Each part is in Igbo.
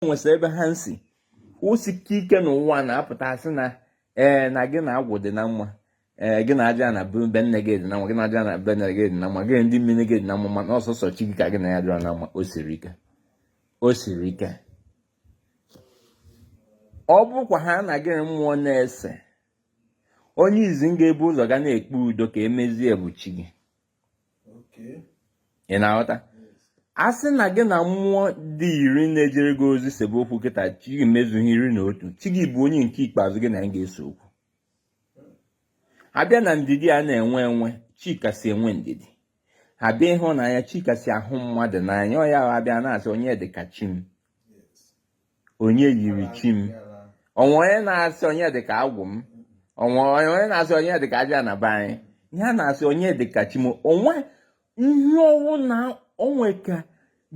nwesịrị ebe ha si kwụsịka ike n'ụwa na-apụta asị na ee na gị na agwụ dị na mma ee gị na ajana be nne gị dị na mma gị na ajana be nne gị dị na mma gị na ndị mmiri gị dị na mma mana ọ sọsọ chi gị ka gị na ya dịrọ na mma o siri ike o siri ike ọ bụkwa ha na gị mmụọ na-ese onye izizi ga-ebu ụzọ ga na-ekpe udo ka e mezie bụ chi gị ị na-aghọta a sị na gị na mmụọ dị iri na-ejere gị ozi sebe okwu kịta chi gị mezuo ha iri na otu chi gị bụ onye nke ikpeazụ gị na ya ga-ese okwu a bịa na ndidi a na-enwe enwe chi kasị enwe ndidi a bịa ịhụnanya chi kasị ahụ mmadụ n'anya ọ ya a bịa na-asị onye dị ka chi m onye yiri chi m o nwe onye na-asị onye dịka agwụ m o nwe onye na-asị onye dịka ajana be anyị ihe a na-asị onye dịka chi m o nwe ihe ọ wụ na o nwe ka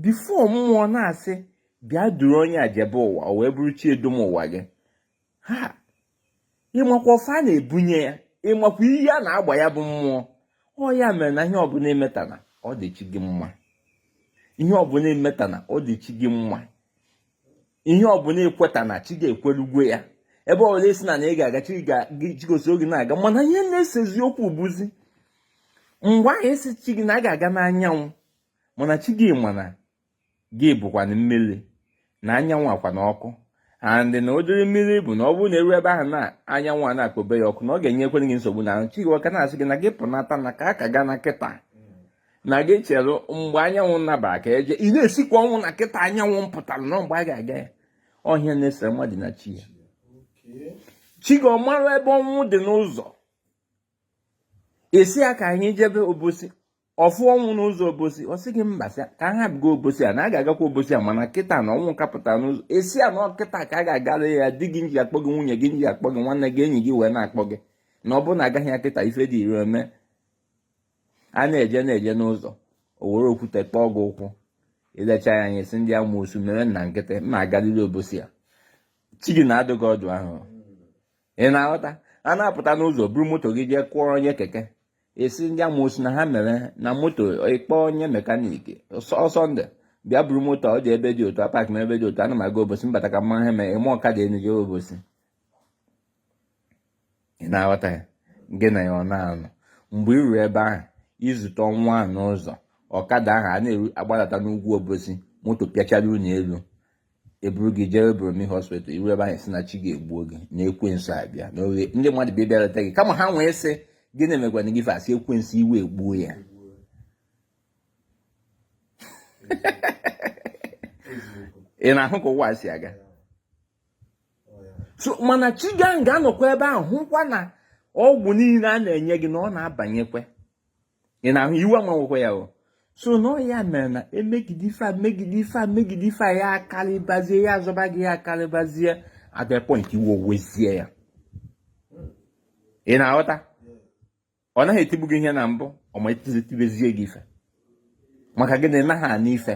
before mmụọ na-asị bịa duru onye a jebe ụwa o wee bụrụ chi edum ụwa gị ha ị makwa ọfọ a na-ebunye ya ị makwa ihe a na-agba ya bụ mmụọ ọ ya mere na ihe ọbụla i metana ọ dị chi gị mma ihe ọbụla i metana ọ dị chi gị mma ihe ọbụla i kwetana chi gị ekweru gị ya ebe ọbụla ị sịna na ị ga-aga chi gị esoro gị na-aga mana ihe na-esezi okwu bụzi mgbe ahụ ị sị chi gị na a ga-aga n'anyanwụ mana chi gị ma na gị bụkwanụ mmiri na anyanwụ akwa na ọkụ and na ụdịrị mmiri bụ na ọ bụrụ na e ruo ebe ahụ na anyanwụ a na-akpọbe ya ọkụ na ọ ga-enyekwere gị nsogbu na chi gị ọ ka na-asị gị na gị pụnata na ka aka gaa na kịta na gị chere mgbe anyanwụ nabara ka e jee ị na-esikwa ọnwụ na kịta anyanwụ pụtara na mgbe a ga-aga ya ọ ihe na-esere mmadụ na chi ya chi gị ọ mara ebe ọnwụ dị n'ụzọ ị sị ya ka anyị jebe obosi ọ fụ ọnwụ n'ụzọ obosi ọ sị gị mba ka a hapụ ịga obosi a na a ga-agakwa obosi a mana kịta na ọnwụ ka pụta n'ụzọ ị sị ya na kịta ka a ga-agara ya di gị nji akpọ gị nwunye gị nji akpọ gị nwanne gị enyi gị wee na-akpọ gị na ọ bụrụ na agaghị ya kịta ife dị ire eme a na-eje na-eje n'ụzọ o were okwute kpọọ gị ụkwụ i lecha ya anya sị ndị amoosu mere na nkịtị m ga-agalili obosi a chi gị na-adụ gị ọdụ ahụ ị na-aghọta a na-apụta n'ụzọ buru moto gị jee kụọ onye keke ị sị ndị amoosu na ha mere na moto ị kpọọ onye mechanic sunday bịa buru moto ọ dị ebe dị otu a park na ebe dị otu ana m aga obosi mbata ka mma ha mee ị maa ọkada enu jee obosi ị na-aghọta ya gị na ya ọ na-anọ mgbe ị ruru ebe ahụ i zute ọnwụ a n'ụzọ ọkada ahụ a na-agbadata n'ugwu obosi moto pịachara unu elu e buru gị jee Borromeo hospital i ruo ebe ahụ sị na chi gị egbuo gị na ekwensu abịa na oghe ndị mmadụ bịa bịarata gị kama ha wee sị gịnị mekwanụ gị fa sị ekwensu iwe egbuo ya ị na-ahụ ka ụwa si aga so mana chi gị ga-anọkwa ebe ahụ hụkwa na ọgwụ niile a na-enye gị na ọ na-abanyekwa ị na-ahụ iwe ama ewekwa ya o so na ya mere na e megide ife a megide ife a megide ife a ya akarịbazie ya azọba gị ya akarịbazie at the point iwe ewezie ya ị na-aghọta ọ naghị etigbu gị ihe na mbụ ọ ma etibezie gị ife maka gị na ị naghị anụ ife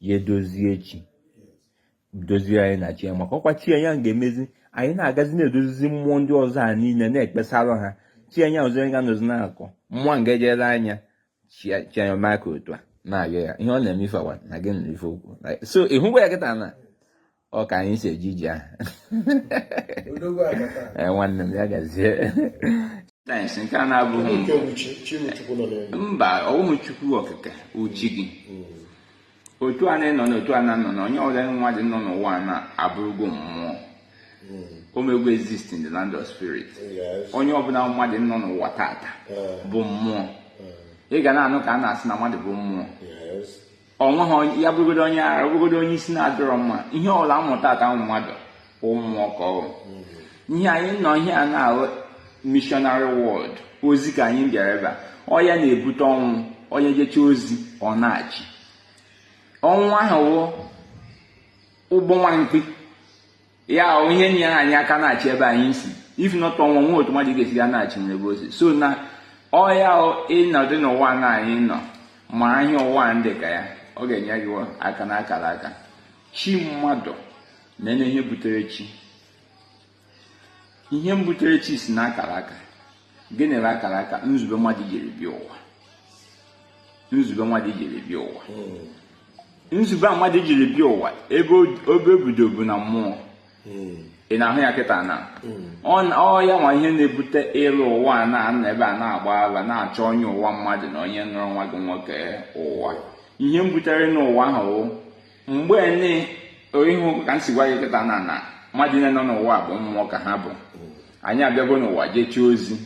ya edozie chi dozie anyị na chi ya maka ọkwa chi ya ga-emezi anyị na-agazi na-edozizi mmụọ ndị ọzọ a niile na-ekpesara ha chi ya ọzọ ya ga-anọzi na-akọ mmụọ nga ejere anya chi anya maka otu a na-arịọ ya ihe ọ na-eme ife awa na gị na ife okwu so ị hụkwa ya kịta na ọ ka anyị si eji iji ahụ eh, nwanne m ya gazie sayensị nke a na-abụghị mba ọ wụhụ chukwu okike wụ chi gị mm. otu a na-anọ na otu a na-anọ na onye ọbụla mmadụ nọ n'ụwa na-abụrụgo mmụọ mm. o megwo exist in the land of spirit onye ọbụla mmadụ nọ n'ụwa tata eh. bụ mmụọ eh. ị ga na-anụ ka a na-asị na mmadụ bụ mmụọ o nweghị ya bụrụgodo onye ara bụrụgodo onye isi na-adịrọ mma ihe ọbụla a mụtata mmadụ ọ mmụọ ka ọ wụ ihe anyị nọ ihe a na-ahụ missionary world ozi ka anyị bịara ebe a ọ ya na-ebute ọnwụ onye jecha ozi ọ naachi ọnwụ ahụ wụ ụgbọ nwa mkpi ya wụ ihe na-enye anyị aka naachi ebe anyị si if not ọnwụ o nweghị otu mmadụ ga-esi ga naachi n'ebe o si so na ọ ya ị nọdụ n'ụwa na anyị nọ ma anyị ụwa ndị ka ya ọ ga-enye gị aka na akara aka chi mmadụ na ihe butere chi ihe mbutere chi si na akara aka gịnị bụ akara aka nzube mmadụ jiri bịa ụwa nzube mmadụ jiri bịa ụwa hmm. nzube a mmadụ jiri bịa ụwa ebe o bido bụ na mmụọ hmm. ị na-ahụ ya kịta na hmm. ọ ya nwa ihe na-ebute ịlọ ụwa a na-anọ ebe a na-agba ala na-achọ onye ụwa mmadụ na onye nọrọ nwa gị nwoke ụwa ihe mbutere ịnọ ụwa ahụ mgbe nị ị hụ ka m si gwa gị kịta na na mmadụ niile nọ n'ụwa bụ mmụọ ka ha bụ anyị abịago n'ụwa jechaa ozi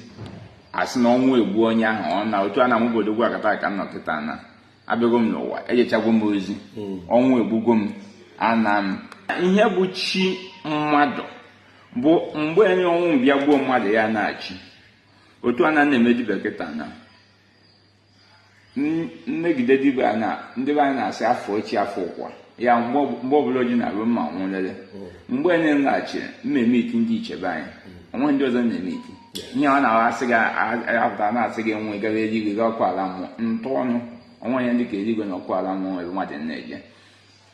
a sị na ọnwụ egbuo onye ahụ ọ naa otu a na m obodo gwa akata ka m nọ kịta na abịago m n'ụwa ejechagwo m ozi hmm. ọnwụ egbugo m anaa m ihe bụ chi mmadụ bụ mgbe nị ọnwụ mbịa gbuo mmadụ ya naachi otu a na na-eme dibịa kịta na mmegide dibịa anyị na ndị be anyị na-asị afọ echi afọ ụkwa ya mgbe ọbụla o ji na-abụ mma nwụlele hmm. mgbe anyị nlaghachiri m emiiti ndị ichie be anyị hmm. o nweghị ndị ọzọ na-emiiti ihe a na-asị gị apụta na-asị gị nwe gara eluigwe ga ọkụ ala mmụọ ntụ ọnụ o nweghị ihe dị ka eluigwe na ọkụ ala mmụọ ebe mmadụ na-eje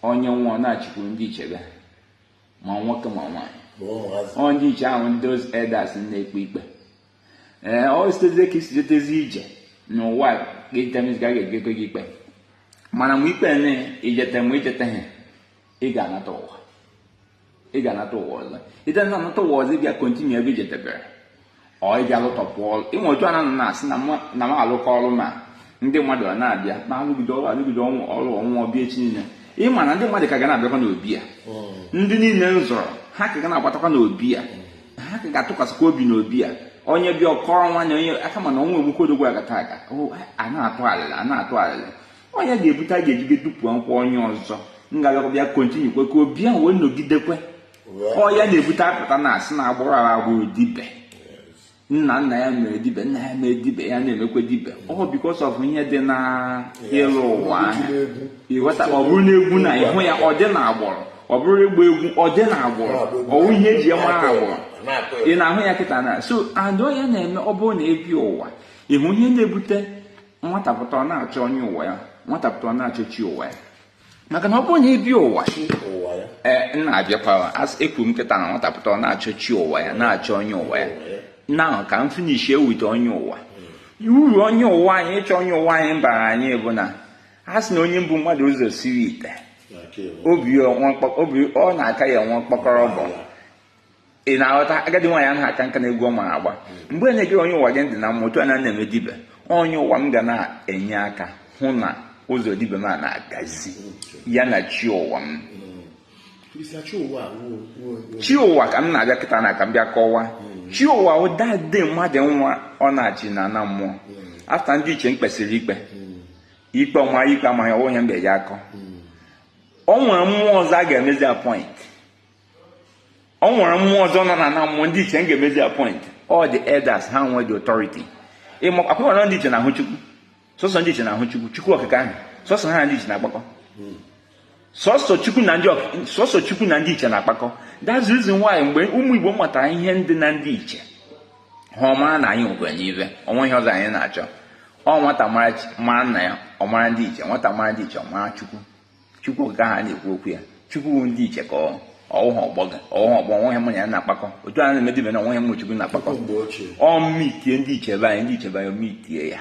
onye nwụọ ọ naachikwu ndị ichie be ma nwoke ma nwaanyị ọ ndị ichie ahụ ndị elders na-ekpe ikpe ee o sitezie ka i si jetezi ije n'ụwa gị that means ha ga-ekpekwe gị ikpe mana mgbe ikpe na i jete mgbe i jeteghị ị ga-anata ụwa ị ga-anata ụwa ọzọ ite na anata ụwa ọzọ ị bịa kontinu ebe i jedebere ọ ị bịa lụtọpụ ọrụ ịnwe otu ananụ na-asị na m alụkọ ọrụ ma ndị mmadụ ọ na-abịa ma alụgide ọrụ alụgide ọnwụ ọrụ ọnwụ abịa echi niile ị ma na ndị mmadụ ka ga na-abịakwa n'obi ya ndị niile m zụrụ ha ka ga na-agbatakwa n'obi ya ha ka ga-atụkwasịkwa obi n'obi a onye bịa ọ kọọrọ nwanne ya ka mana ọnwa enwekwa odogwu agata aga a na-atụ alịla a na-atụ alịla ọ ya ga-ebute a ga-eji edupu nkwụ onye ọzọ ngalaba bịa kontinukwe ka obi ahụ wee nọgidekwe ọ ya na-ebute a pụta a na-asị na agbụrụ a agbụrụ dibie nna nna ya mere dibie nna ya mere dibie ya na-emekwa dibie ọ because of ihe dị na ịlọ ụwa ahụ ị ghọta ọ bụrụ na egwu ị na-ahụ ya ọ dị na agbụrụ ọ bụrụ ịgba egwu ọ dị na agbụrụ ọ wụ ihe e ji ya mara agbụrụ ị na-ahụ ya kịta na so adọ ya na-eme ọ bụrụ na ebi ụwa ọ wụ ihe na-ebute nwata pụta ọ na-achọ onye ụwa ya nwata pụta ọ na-achọ chi ụwa ya maka na ọ bụrụ na ebi ụwa ee m na-abịakwa ekwu m kịta na nwata pụta ọ na-achọ chi ụwa ya na-achọ onye ụwa ya na ka m finishi ewute onye ụwa hmm. uru onye ụwa anyị ịchọ onye ụwa anyị bara anyị bụ na a sị na onye bu mmadụ ụzọ siri ite ọ bụ ya na-aka ya enwe mkpọkọrọ ọkụ ị na-aghọta agadi nwaanyị anaghị aka nka na egwu ọ mara agba mgbe ị na-ege onye ụwa gị ntị na mụ otu a na-eme dibie onye ụwa m ga na-enye aka hụ na ụzọ dibie m a na-agazi ya na chi ụwa m chi ụwa ka m na-abịa kịta na ka m bịa kọwa chi ụwa ụdadị mmadụ nwụọ naachi na ana mmụọ after ndị ichie m kpesịrị ikpe ikpe ọ ma ya ikpe amaghị ọ wụ ihe m ga-eji akọ o nwere mmụọ ọzọ a ga-emezi appoint o nwere mmụọ ọzọ nọ na ana mmụọ ndị ichie m ga-emezi appoint ọ the elders ha nwe the authority ọ kwa ị ma ndị ichie na-ahụ chukwu sọsọ ndị ichie na-ahụ chukwu chukwu okike ahụ sọsọ ha ndị ichie na-akpakọ sọsọ chukwu na ndị sọsọ chukwu na ndị ichie na-akpakọ that's the reason why mgbe ụmụ igbo matara ihe dị na ndị ichie ha ama na anyị nwekwanụ ihe o nweghị ihe ọzọ anyị na-achọ ọ nwata mara nna ya ọ mara ndị ichie nwata mara ndị ichie ọ mara chukwu chukwu nke ahụ a na-ekwu okwu ya chukwu ndị ichie ka ọ ọ wụghị ọgbọ gị ọ wụghị ọgbọ o nweghị mụ na ya na-akpakọ otu a na-eme dibie na o nweghị mụ na chukwu na-akpakọ ọ m miitie ndị ichie be anyị ndị ichie be anyị emiitie ya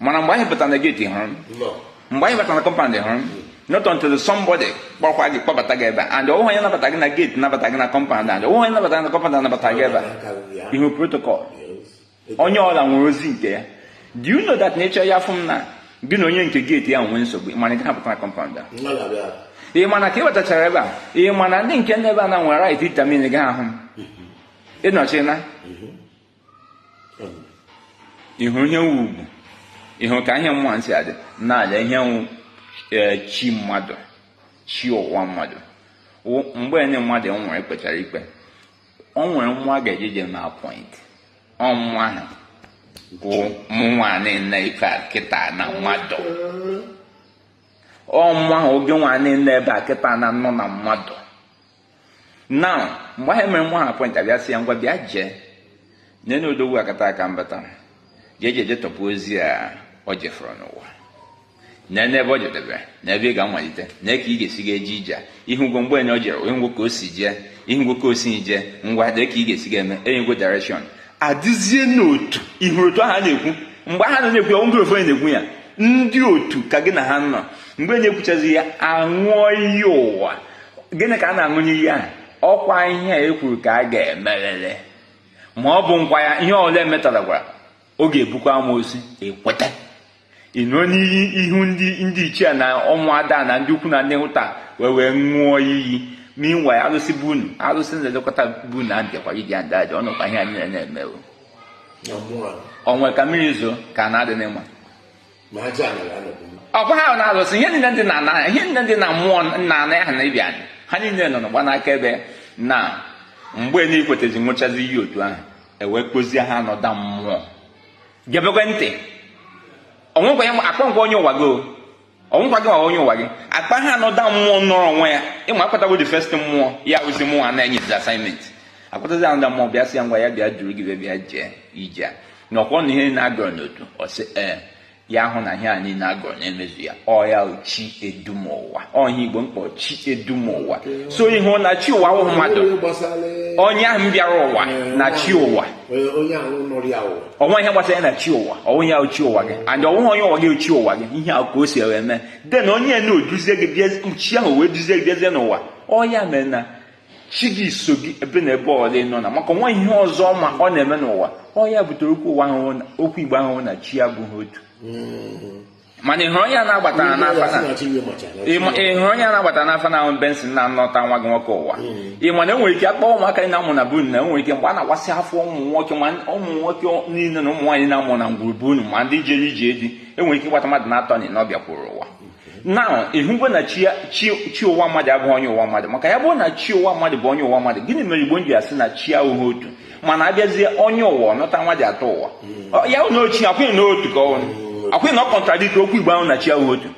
mana mgbe anyị pụtara na geeti hụrụ m mgbe anyị batara na kọmpand hụrụ m not until somebody kpọkwa gị kpọbata gị ebe and ọ wụghị onye nabata gị na geeti nabata gị na kọmpand and ọ wụghị onye nabata gị na kọmpand anabata gị ebe a ị hụ protocol onye ọ bụla nwere ozi nke ya do you know that nature ya fụ m na gị na onye nke geeti ya nwee nsogbu mana gị hapụta na kọmpand a ị mana ka ị wetachara ebe a ị mana ndị nke ndị ebe a na nwere right itamin gị ahụ m ịnọchina ị hụrụ ihe nwe ugwu ị hụrụ ka ihe nwa na-esi adị n'ala ihe wụ e, chi mmadụ chi ụwa mmadụ mgbe onye mmadụ nwere kpechara ikpe ọ nwere mmụọ a ga-ejeje na appoint ọ mmụọ ahụ bụ mụnwa nọ n'ebe a kịta na mmadụ ọ mmụọ ahụ ọ gịnwa nọ n'ebe a kịta na nọ na mmadụ now mgbe ahụ mere nwa ha appoint abịa sị ya ngwa bịa jee ije na odogwu akataka mbata jee jee jee tọpụ ozi a ọ jefọrọ n'ụwa na n'ebe ọ jedebe na ebe ị ga-amalite na ka ị ga-esi ga eje ije ị hụgo mgbe enye ọ jere onye ngwo ka o si jee ị hụgo ka o si jee ngwa lee ka ị ga-esi ga eme enyego direction adịzie n'otu ihe ahụ a na-ekwu mgbe ha na-ekwu ya ọ wụ ofe na-ekwu ya ndị otu ka gị na ha nọ mgbe na-ekwuchazi ya aṅụọ iyi ụwa gịnị ka a na-aṅụ n'iyi ahụ ọ kwa ihe a e kwuru ka a ga-emerịrị ma ọ bụ nkwa ya ihe ọ bụla metara gwara ọ ga-ebukwa amoosu ekweta ị ṅụọ iyi n'ihu ndị ichie na ụmụada na ndị ukwu na ndị nta wee wee ṅụọ iyi n'inwe arụsị be unu arụsị na-elekọta be unu a bịakwa iji ada aja ọ wụkwa ihe anyị na-eme onwe ka mmiri zoo ka na-adị n'ụwa ọ bụghị ahụ na alụsị ihe niile ndị na-ana ya ihe niile ndị na mmụọ nna ana ya ha na ibi anyị ha niile nọ na-agba akaebe na mgbe na ikwetezi ṅụchazi iyi otu ahụ e wee kpọzie another mmụọ gebekwa ntị onwekwa ya akpa ngwa onye ụwa gị ọ wụkwa gị ma onye ụwa gị a kpọọ another mmụọ nọrọ onwe ya ị ma akpọtago the first mmụọ ya ozi mmụọ na-enye assignment akpọtazi another mmụọ bịa sị ya ngwa ya bịa duru gị bịa jee ije na ọ kwa na ihe na-agọrọ n'otu ọ sị ee ya hụ na ihe a niile agọrọ na-emezu ya ọ ya chi edu m ụwa ọ ya igbo na-akpọ chi edu m ụwa so ị hụ na chi ụwa wụ mmadụ onye ahụ bịara ụwa na chi ụwa o nweghị ihe gbasara ya na chi ụwa ọ wụ ya chi ụwa gị and ọ wụghị onye ụwa gị chi ụwa gị ihe ahụ ka o si eme de na onye na-eduzie gị bịa chi ahụ wee duzie gị bịazie n'ụwa ọ ya mere na chi gị so gị ebe na ebe ọ bụla ị nọ na maka nwa ihe ọzọ ma ọ na-eme n'ụwa ọ ya butere okwu ụwa ahụ okwu igbo ahụ na chi abụghị otu mm-hmm. mana ịhụrụ onye a na-agbata n'afa na ịhụrụ onye a na-agbata n'afa na ọ bụ Benson na-anọta nwa gị nwoke ụwa mm-hmm. ị ma na enwere ike akpọ ụmụaka a na-amụ na be unu na enwere ike mgbe a na-akwasị afọ ụmụ nwoke ma ụmụ nwoke niile na ụmụ nwaanyị na-amụ na ngwuru be unu ma ndị jere ije di enwere ike ịgbata mmadụ naatọ na ịnọ ọ bịakwuru ụwa na ịhụgo na chi ụwa mmadụ abụghị onye ụwa mmadụ maka ya bụrụ na chi ụwa mmadụ bụ onye ụwa mmadụ gịnị mere igbo ji asị na chi abụghị otu mana abịazie onye ụwa ọ nọta mmadụ atọ ụwa hmm. ya na chi akwụghị na otu ka ọnụ hmm. akwụghị na ọ contradict okwu igbo ahụ na chi abụghị otu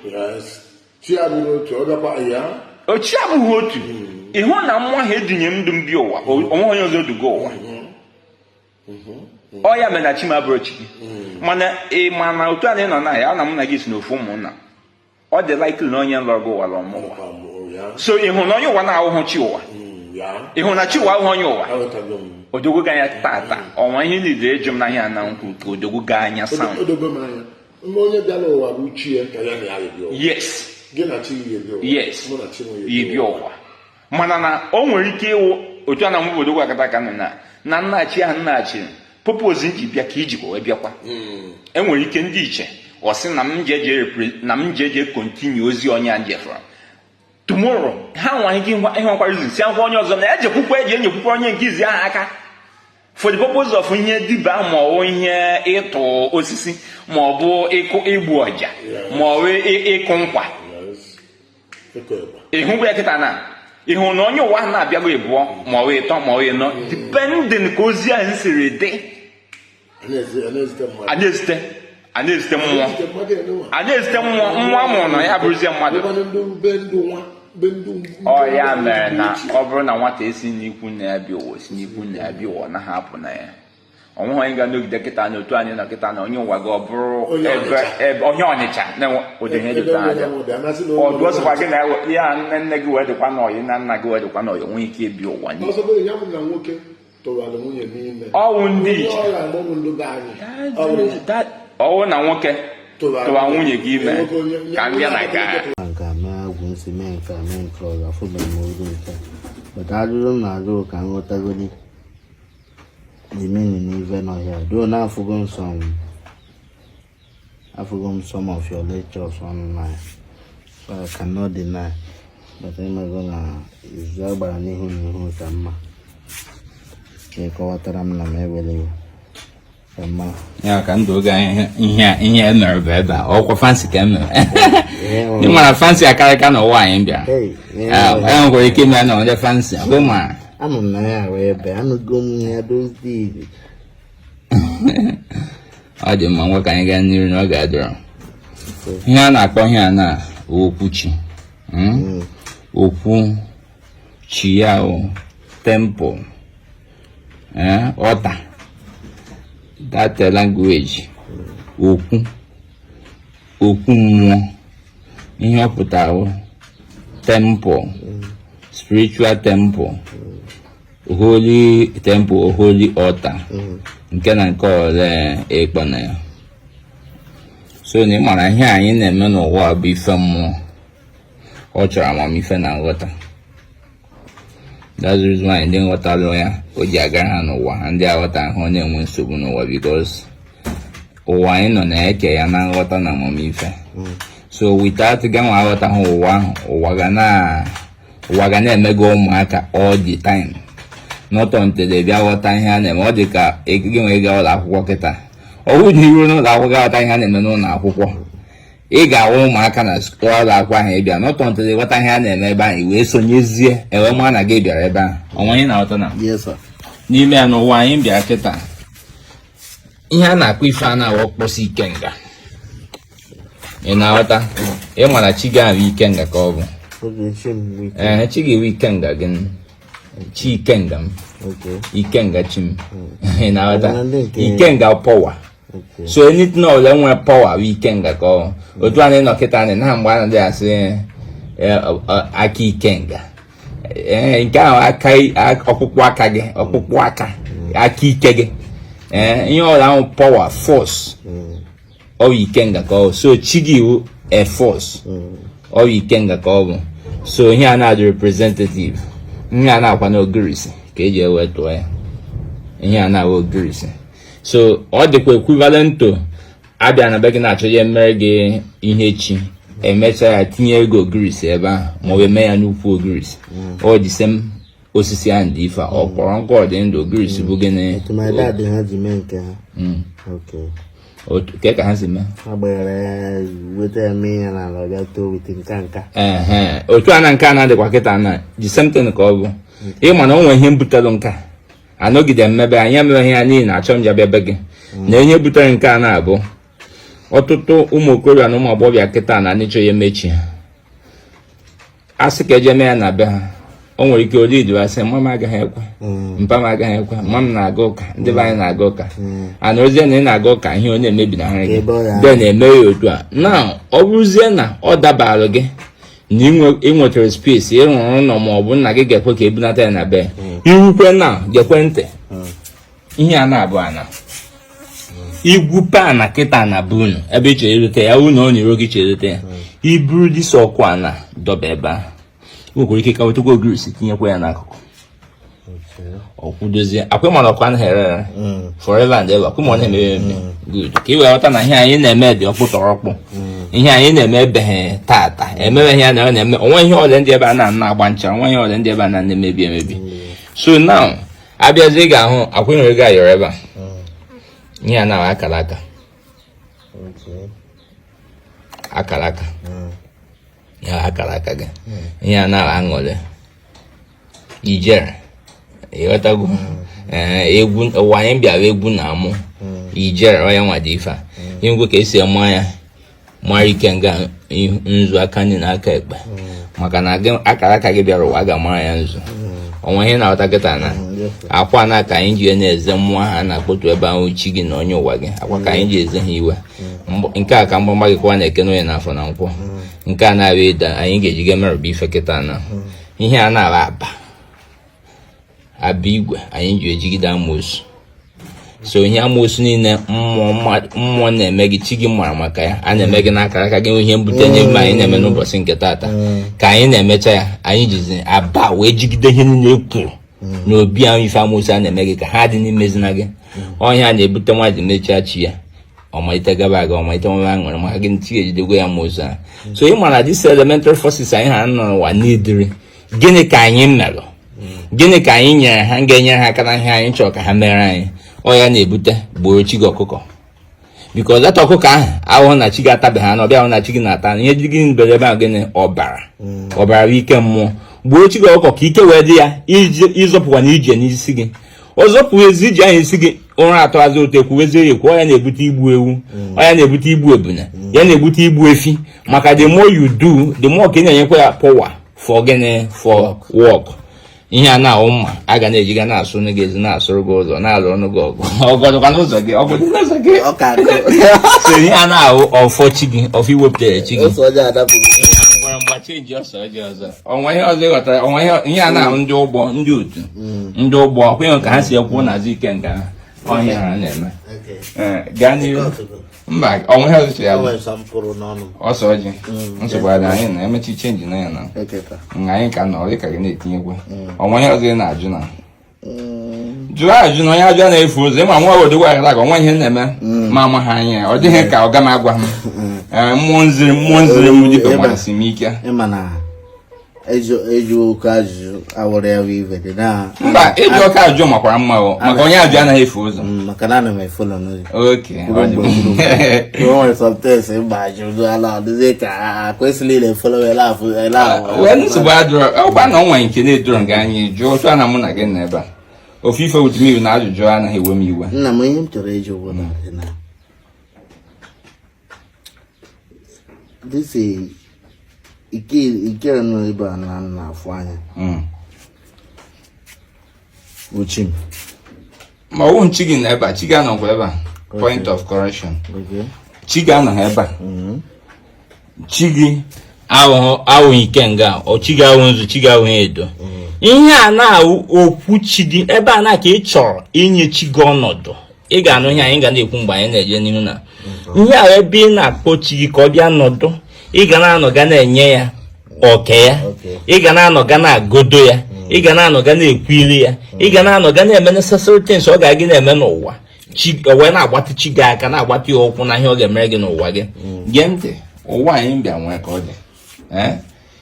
chi abụghị otu hmm. ịhụ na nwa ha edinye du m bịa ụwa o nwehọ onye ọzọ ọ duga ụwa ọ ya mere na chi m abụrọ chi gị mana ị ma na otu anyị nọ na ya ana m na gị si na ofu ụmụnna ọ dị likely na onye lọrọ gị ụwa lọrọ m ụwa so ị hụrụ na onye ụwa abụghị chi ụwa ị hụrụ na chi ụwa abụghị onye ụwa o dogo gị anya tata ọ wụ ya ihe niile eji m n'ahịa na nkwụ ka o doo gị anya sam onye bịara ụwa bụ chi ya ka ya na ya yes gị na chi ya ebi ụwa yes ibi ụwa mana na o nwere ike ịwụ otu a na obodo gwakọta aka na na nnachi ahụ nnachi purpose m ji bịa ka i jikwa wee bịakwa hmm. enwere ike ndị ichie sị na m ji eje continue ozi onye a ejefurọ tomorrow ha nwere ike ịhụkwa izisịakwa onye ọzọ na ya jekwukwa eje enyekwukwa onye nke izizi ahụ aka for the purpose of ihe dibịa ma ọ bụ ihe ịtụ osisi ma ọ bụ ịkụ igbu ọja ma ọ bụ ịkụ nkwa ịhụ ya kịta na ịhụ na onye ụwa ahụ na-abịago ịbụọ ma ọ ịtọ ma ọ ịnọ depending ka ozi ahụ siri dị a na-ezite a na-ezite mmụọ a na-ezite mmụọ nwa mụrụ na ya bụrụzie mmadụ ọ ya mere na ọ bụrụ na nwata esi n'ikwu nna ya bịa ụwa si n'ikwu nna ya bịa ụwa na-ahapụ na ya onweghị onye ga-anọgide kịta na otu anyị nọ kịta na onye ụwa gị ọ bụrụ onye ọnịcha n'ụdị ihe dị otu a aja ọdụ ọ sọkwa gị na ya nne nne gị wee dịkwa n'ọyị na nna gị wee dịkwa n'ọyị o nwee ike ịbịa ụwa ọ wụ ndị ọ wụ na nwoke tụwa nwunye gị ime ka m bịa na nke agha aga mee agwụ nsị mee nke a mee nke ọ gafụbara m oge nke maka ajụjụ m na-ajụ ka m ghọtagodi Jimini n'ive nọ ya duo na afụgo m some afụgo m some of your lectures online so I cannot deny but ịmago na izu a gbara n'ihu n'ihu ka mma ka ị kọwatara m na m ewere iwe ya ka ndụ oge anyị ihe ihe emere bụ ebe a ọkwa fancy ka emere ị mara fancy akarịka na ụwa anyị bịara e nwekwara ike ime na onye fancy bụ ma ama m na ya ahụ ebe anụgo m ya dozi ọ dị mma ngwa ka anyị gaa n'iru na ọ ga-adịrọ ihe a na-akpọ ihe a na okwu chi hmm? hmm. okwu chi ya o temple altar that language okwu okwu mmụọ ihe ọ pụtara temple spiritual temple holy temple holy altar nke na nke ọbụla ị kpọ na ya so na ị mara ihe anyị na-eme n'ụwa bụ ife mmụọ ọ chọrọ amamife na nghọta That's the reason why ndị ghọtalụ ya o ji agara ha n'ụwa ha ndị aghọtahụ na-enwe nsogbu n'ụwa because ụwa anyị nọ na e ke ya na nghọta na amamife so without gịnwa aghọta ha ụwa ahụ ụwa ga na ụwa ga na-eme gị ụmụaka all the time not until ị bịa ghọta ihe a na-eme ọ dị ka gịnwa gaa ụlọ akwụkwọ kịta ọ bụrụ na i ruo n'ụlọ akwụkwọ ghọta ihe a na-eme n'ụlọ akwụkwọ ị ga-ahụ ụmụaka n'ụlọ akwụkwọ ahụ ị bịa not untilzi ị ghọta ihe a na-eme ebe ahụ wee sonyezie wee mara na gị bịara ebe ahụ ọnwa anyị na-aghọta na n'ime ya n'ụwa anyị bịa kịta ihe a na-akpọ ife a na-awa ọkpọsi ikenga ị na-aghọta ị mara chi gị ahụ ikenga ka ọ bụ ee chi ga-ewe ikenga gị chi ikenga m ikenga chi m hmm. ị na-aghọta ikenga power so anything ọbụla nwere power bụ ikenga ka ọ bụ otu anyị nọ kịta anyị na mgbe anyị dị asị eh, eh, aka ikenga eh, nke ahụ aka ọkpụkpụ aka gị ọkpụkpụ aka aka ike gị ihe ọbụla ahụ power force ọ bụ ikenga ka ọ bụ so chi gị wụ a force ọ bụ ikenga ka ọ bụ so ihe a na-adị representative ihe a na-akwa n'ogirisi ka eji wee tụọ ya ihe a na-awa ogirisi so ọ dịkwa equivalent to a bịa na be gị na-achọ ya emere gị ihe chi emecha ya tinye gị ogirisi ebe ahụ ma ọ eme ya n'ukwu ogirisi ọ the same osisi ahụ dị ife ọ kpọrọ nkụ ọ dị ndụ ogirisi bụ gịnị oke ka ha si mee otu a na nke a na-adịkwa kịta na the same thing ka ọ bụ ị ma na o nwere ihe mbutelụ nka anọgide mmebe anyị emeghị ya n'ihi na achọ m ya bịa be gị mm. na ihe butere nke a na-abụ ọtụtụ ụmụ okorobịa na ụmụ agbọghọbịa kịta na anịchọ ya emechi a sị ka e je mee ya na be ha o nwere ike ori idu asị mma m agaghị ekwe mm. mpa m agaghị ekwe mma m na-aga ụka ndị be anyị na-aga ụka mm. anọzie na ị na-aga ụka ihe onye emebinahara gị de na-eme ya otu a na ọ bụrụzie na ọ dabalụ gị na ị nwetara space ị rụrụ ụlọ ma ọ bụ nna gị ga-ekwe ka e bunata ya na be hmm. irukwe na gekwe ntị hmm. ihe a na-abụ ana igwupụ ana kịta na be unu ebe ị chere irute ya unu ọ na-ero gị cherute ya hmm. i buru this ọkụ ana dọba ebe a nwekwara ike ka wetakwa ogirisi tinyekwa ya n'akụkụ ọ kwụdozie akwa ị mara ọ ka na-ere ere mm. forever and ever kwụmọ na-eme eme mm. good ka ị wee ghọta na ihe anyị na-eme dị ọkpụ tọrọ ọkpụ mm. ihe anyị na-eme abụghị taata e mewe ihe na na-eme onwe ihe ọrịa ndị ebe a na-ana agba ncha onwe ihe ọrịa ndị ebe a na na-emebi emebi so now abịazi ị ga-ahụ akwa ị nwere ego ayọrọ ebe a ihe a na-ahụ akara aka akara aka ihe akara aka gị ihe a na-ahụ aṅụrị ijere ị ghọtago ee egwu ụwa anyị bịara egwu na amụ ijere ọ ya nwa dị ife a e nwee ka esi ama ya mara ikenga nzu aka nri na aka ekpe maka na akara aka gị bịara ụwa a ga-amara ya nzu ọnwa ihe na-aghọta kịta na akwa na ka anyị ji na-eze mmụọ ha na-akpọtu ebe ahụ chi gị na onye ụwa gị akwa ka anyị ji eze ha iwe nke a ka mgbamgba gị kwa n'eke n'oye n'afọ na nkwọ nke a na-abịa ịda anyị ga-ejiga merụba ife kịta na ihe a na-abụ aba aba igwe anyị ji ejigide amoosu so ihe amoosu niile mmụọ na-eme gị chi gị mara maka ya a na-eme gị n'akara aka gị ihe na-ebute ya mgbe anyị na-eme n'ụbọchị nke taata ka anyị na-emecha ya anyị jizi aba wee jigide ihe niile kwuru n'obi ahụ ife amoosu a na-eme gị ka ha dị n'imezina gị ọ ya na-ebute nwa ji mechaa chi ya ọ malite gaba aga ọ malite nwe aṅụrị maka gịnị ejidego amoosu a so ị mara these elementary forces anyị ha nọ n'ụwa n'idiri gịnị ka anyị merụ gịnị ka anyị nyere ha ga-enye ha aka na ihe anyị chọrọ ka ha mere anyị ọ ya na-ebute gbuoro chi gị ọkụkọ biko leta ọkụkọ ahụ ahụhụ na chi gị atabeghị anụ ọ bụghị anụ na chi gị na-ata ihe dị gị ndere ebe ahụ gịnị ọbara mm. ọbara bụ ike mmụọ gbuo chi gị ọkụkọ ka ike wee dị ya ịzọpụkwa na ije n'isi gị ọ zọpụrụzie ije anyị esi gị ụra atọ azụ otu ekwuwezie ya ọ ya na-ebute igbu ewu ya na-ebute igbu ebunu ya na-ebute igbu efi maka the more you do the more ka ị na-enyekwa ya power for gịnị for work ihe a na-ahụ mma a ga na-eji ga na-asụnụ gị ezi na-asụrụ gị ụzọ na-alụnụ gị ọgụ ọgọdụkwa n'ụzọ gị ọgọdụ n'ụzọ gị so ihe a na-ahụ ọfọ chi gị ọfọ i wepụtara chi gị ngwara mgbachi eji ọsọ ọjọọ ọzọ o nwe ihe ọzọ ị ghọtara o nwe ihe a na-ahụ ndị ụgbọ ndị otu mm. ndị ụgbọ ọkwa ị hụ ka ha si ekwu na azụ ike nga ọhịa ha na-eme eh, gaa n'ihu mba o nwe ihe ọzọ ya ose ọjị mm. nsogbu ada anyị na emechi chenji na ya na anyị ka nọ ọ dị ka gị na-etinyekwu mm. o nwe ihe ọzọ ị na-ajụ na jụọ ajụ na onye ajụ anaghị efu ụzọ ị ma nwa obodo gwa gara aga nwa ihe na-eme mm. ma ama ha anya ọ dịghị ka ọga m agwa m mm. eh, mmụọ nziri mmụọ nziri m dịka gbalịsi m ike eji oke ajụjụ awụrụ ya bụ ibe dị na mba ịjụ oke ajụjụ makwara mma maka onye ajụ anaghị efu ụzọ mm, maka na ana m efu ụlọ n'ụzọ nsogbu adịrọ ọ bụrụ na o nwe nke na-edoro gị anya jụọ otu a na mụ na gị nọ ebe a feel free with me na ajụjụ anaghị ewe m iwe nna m ihe m chọrọ ịjụ bụ na this ike nọ ebe a na m na-afụ anya wụ chi m ma ọ wụ chi gị nọ ebe a chi gị anọkwa ebe a point of correction chi gị anọghị ebe a mm-hmm. chi gị awụghị ikenga ọ chi gị awụ nzu chi gị awụghị edo mm-hmm. ihe a na wụ okwu chi gị ebe a na ka ị chọrọ inye chi gị ọnọdụ ị ga-anụ ihe anyị ga na-ekwu mgbe anyị na-eje n'ihu na ihe a wụ ebe ị na-akpọ chi gị ka ọ bịa nọdụ ị ga na-anọ ga na-enye ya oke ya ị ga na-anọ ga na-agọdo ya ị ga na-anọ ga na-ekwuri ya ị ga na-anọ ga na-eme necessary things ọ ga-abụ gị na-eme n'ụwa wee na-agbatị chi gị aka na-agbatị ya ụkwụ na ihe ọ ga-emere gị n'ụwa gị mm. gee ntị ụwa anyị bịa nwee ka ọ dị eh?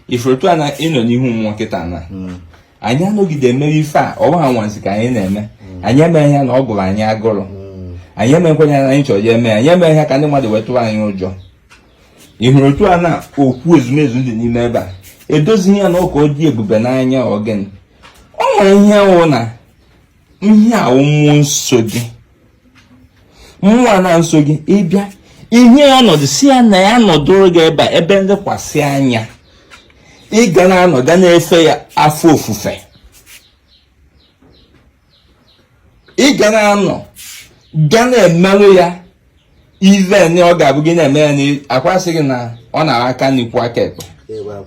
ị fụrụ otu a na ị nọ n'ihu mmụọ kịta na hmm. anyị anọgide emere ife a ọ wụghị anwansi ka anyị na-eme hmm. anyị emeghị ya na ọ gụrụ anyị agụrụ hmm. anyị emekwenye anyị chọrọ ya eme anyị emeghị ya ka ndị mmadụ wee tụrụ anyị ụjọ ị hụrụ otu a na okwu ezumezu dị n'ime ebe a edozighị ya na ka ọ dị ebube n'anya ọ gịnị ọ nwere ihe ọ wụ na ihe a wụ mmụọ na-eso gị mmụọ na-eso gị ị bịa nye ya ọnọdụ sị ya na ya nọdụrụ gị ebe a ebe nlekwasị anya ị ga na-anọ ga na-efe ya afọ ofufe ị ga na-anọ ga na-emeru ya ive na ọ ga-abụ gị na-eme ya na-akwasị gị na ọ na-ara aka nri kwọọ aka ekpe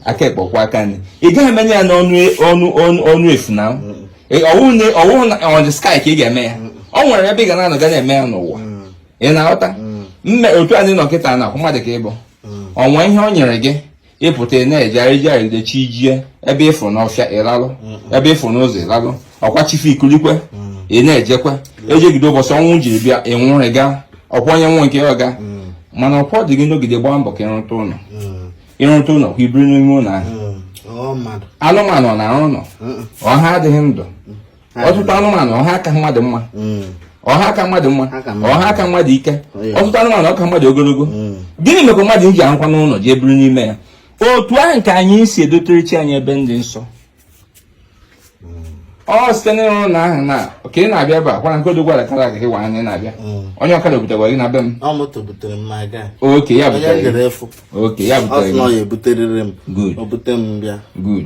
aka ekpe kwọọ aka nri ị gaghị emelu ya n'ọnụ ọnụ efu na ọ wụhụ na on the sky ka ị ga-eme ya ọ nwere ebe ị ga na-anọ ga na-eme ya n'ụwa ị na-aghọta mme otu anyị nọ kịta na ọkwa mmadụ ka ị bụ o nwe ihe ọ nyere gị ị pụta ị na-eje ejegide chi jie ebe ị fụ n'ọfịa ị lalụ ebe ị fụ n'ụzọ ị lalụ ọkwa chi foo i kulikwa ị na-ejekwa ejegide ụbọchị ọnwụ jiri bịa ị nwụrụ ị gaa ọkwa onye nwụọ nke ya ọ gaa mana ọkwa ọ dị gị n'ogide gbaa mbọ ka ị rụta ụlọ ị rụta ụlọ ka i biri n'ime ụlọ ahụ anụmanụ na-arụ ụlọ ọ ha adịghị ndụ ọtụtụ anụmanụ ọ ha aka mmadụ mma hmm. ọ ha aka mmadụ mma ọ ha aka mmadụ ike oh, ọtụtụ anụmanụ ka mmadụ ogologo hmm. gịnị mekwa mmadụ ji arụkwanụ ụlọ jee biri n'ime ya otu ahụ ka anyị si edotere chi anyị ebe dị nsọ ọ site n'ịrụ ụlọ ahụ na ka ị na-abịa ebe a kwara nke odogwara kara aga gị wara na ị na-abịa onye ọkada obutegwa gị na be m ọkwa ya butere Ọkwa ya butere gị. Ọ ya ebuterịrị m. Good. O bute m bịa. Good.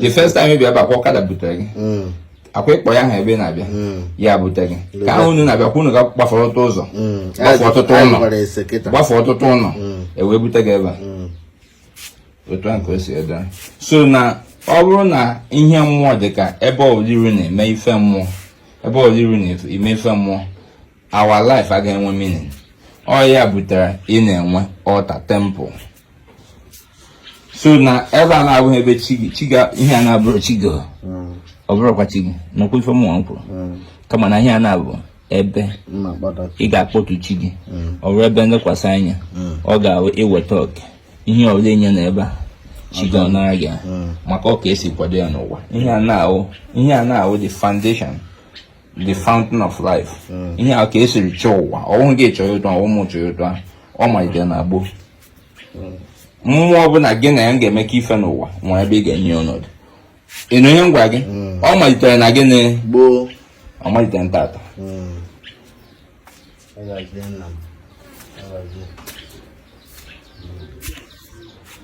The first time ị bịa bụ ọkwa ọkada butere gị. Mm. Ọkwa ị kpọọ ya aha ebe ị na-abịa. Mm. Ya butere gị. Ka ahụ unu na-abịa ọkwa unu ga gbafere ọtụtụ ụzọ. Mm. Gbafere ọtụtụ ụlọ. Gbafere ọtụtụ ụlọ. E wee bute gị ebe a. Otu ahụ ka o si adị. So na ọ bụrụ na ihe mmụọ dị ka ebe ọbụla i ru na-eme ife mmụọ ebe ọbụla i ru na-eme ife mmụọ our life agaghị enwe meaning ọ ya butere ị na-enwe altar temple so na ebe a na-abụghị ebe chi gị chi ga ihe a na-abụrụ chi gị ọ bụrụkwa chi gị nụkwa ife mụnwa m kwuru kama na ihe a na-abụ ebe ị ga-akpọtu chi gị ọ bụrụ ebe nlekwasị anya ọ ga-awụ i weta oke ihe ọbụla enye na ebe a chi gị ọ nara gị maka ọ ka e si kwado ya n'ụwa ihe a na-awụ ihe a na-awụ the foundation the fountain of life hmm. ihe a ka e siri chọọ ụwa ọ wụ gị chọta ọ wụ m chọta ọ malitere na gboo hmm. mmụọ ọbụla gị na ya ga-emekọ ife n'ụwa nwere ebe ị ga-enye ọnọdụ ị nụ ihe m gwa gị hmm. ọ malitere na gịnị gboo ọ malitere taata